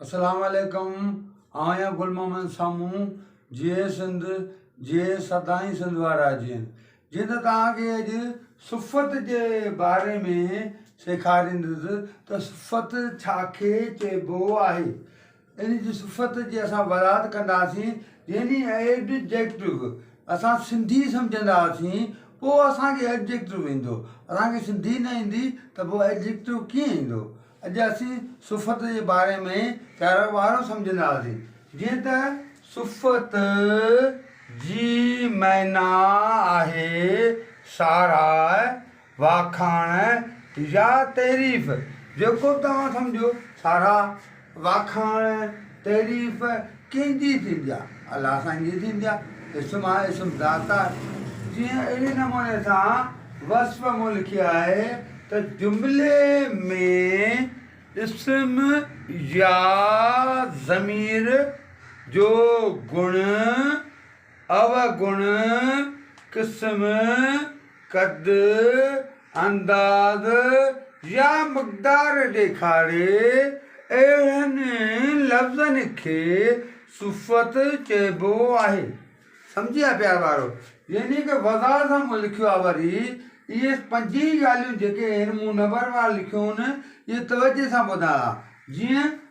اسلام عليڪم آهيان گل محمد سامون جيئي سنڌ جيئي سدائين سنڌ وارا جيئن جيئن ته توهان کي اڄ صفت جي باري ۾ سيکاريندس ته صفت ڇا کي چئبو آهي ان جي صفت جي اسان وضاحت ڪنداسين يعني ايڊجيڪٽو اسان سنڌي سمجهنداسين پوء اسان کي ايڊجيڪٽو ايندو اسان کي سنڌي نه ايندي ته پوء ايڊجيڪٽو ڪيئن ايندو اڄ اسين صفت جي باري ۾ چارو ٻارو سمجهنداسين، جيئن ته صفت جي معنيٰ آهي ساراهه، واکاڻ يا تعريف، جيڪو به توهان سمجهو، ساراهه، واکاڻ، تعريف، ڪنهن جي ٿيندي آ؟ الله سائين جي ٿيندي آ، اسم آ، اسم ذات آ، جيئن اهڙي نموني سان وصف مون لکي آهي ته جملي ۾ اسم يا ضمير جو گڻ، اوگڻ قسم، قد، انداز يا مقدار ڏيکاري اهڙن لفظن کي صفت چئبو آهي سمجهيا پيار وارو يعني ڪي وضاحت سان مون لکيو آهي وري اهي پنج ئي ڳالهيون جيڪي هن مون نمبر وار لکيون آهن اهي توجهي سان ٻڌايا جيئن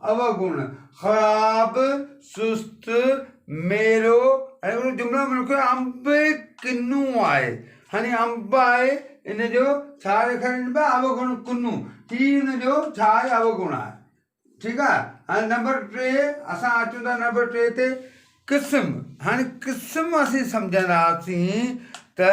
اوگڻ، خراب، سست، ميرو ۽ اهڙو جملو ملڪ جو انب ڪنو آهي هاڻي انب آهي ان جو ڇا لکڻ انب اوگڻ ڪنو هي ان جو ڇا آهي اوگڻ آهي ٺيڪ آهي هاڻي نمبر ٽي اسان اچون ٿا نمبر ٽي تي قسم هاڻي قسم اسين سمجهنداسين ته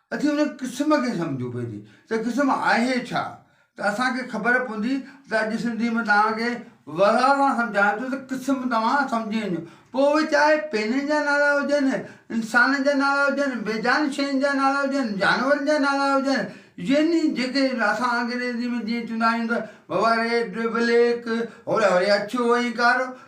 اچي ان قسم کي سمجهون پهرين ته قسم آهي ڇا ته اسان کي خبر پوندي ته اڄ سنڌي ۾ توهان کي وضاحت سان سمجهايان ٿو ته قسم توهان سمجهي وڃو پوء اهي چاهي پينن جا نالا هجن انسانن جا نالا هجن بي جان شين جا نالا هجن جانورن جا نالا هجن يعني جيڪي اسان انگريزي ۾ جيئن چوندا آهيون ته بابا ريڊ بليڪ هوري هوري اڇو ۽ ڪارو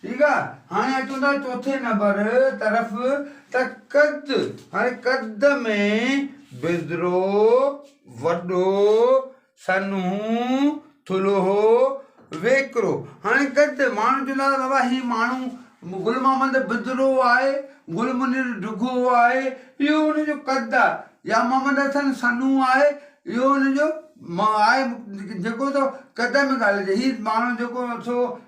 ٺيڪ آ هاڻي اچون ٿا چوٿين نمبر طرف ته قد هاڻي قد ۾ بزرو، وڏو، سنهو، ٿلهو، ويڪرو هاڻي قد ماڻهو چوندا ته بابا هي ماڻهو گل محمد بزرو آهي گل منير ڊگهو آهي اهو ان جو قد آ يا محمد حسن سنهو آهي اهو ان جو آهي جيڪو سو قد ۾ ڳالهه هي ماڻهو جيڪو سو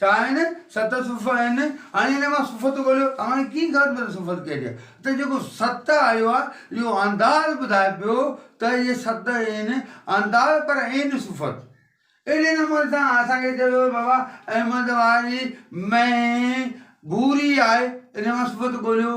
ڇا آهن ست صفحا آهن هاڻي هن مان صفت ڳوليو ته هاڻي ڪيئن خبر پوندي صفت ڪهڙي آهي ته جيڪو ست آيو آهي اهو انداز ٻڌائي پيو ته اهي ست آهن انداز پر عين صفت اهڙي نموني سان اسان کي چئي ويو بابا احمد واري مينهن ڀوري آهي ان مان صفت ڳوليو.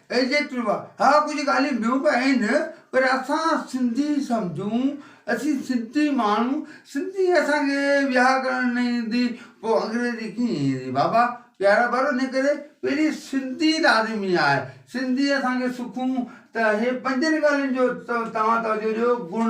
اي جي پيوا، ها ڪجهه ڳالهيون ٻيون به آهن پر اسان سنڌي سمجهون اسين سنڌي ماڻهو سنڌي اسان کي ويهاء ڪرڻ نه ايندي پوء انگريزي ڪيئن ايندي بابا پيارا ڀائرو ان ڪري پهرين سنڌي لازمي آهي سنڌي اسان کي سکون ته هي پنجن ڳالهين جو توهان توجهه ڏيو گڻ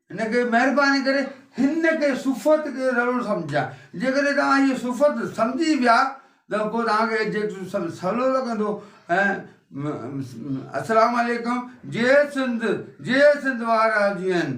ان ڪري مهرباني ڪري هن کي صفت کي رلو سمجهيا. جيڪڏهن توهان هيء صفت سمجهي ويا ته پوء توهان کي ايڊجيڪٽو سڀ سولو لڳندو ۽ السلام عليڪم جئي سنڌ جئي سنڌ وارا جيئن.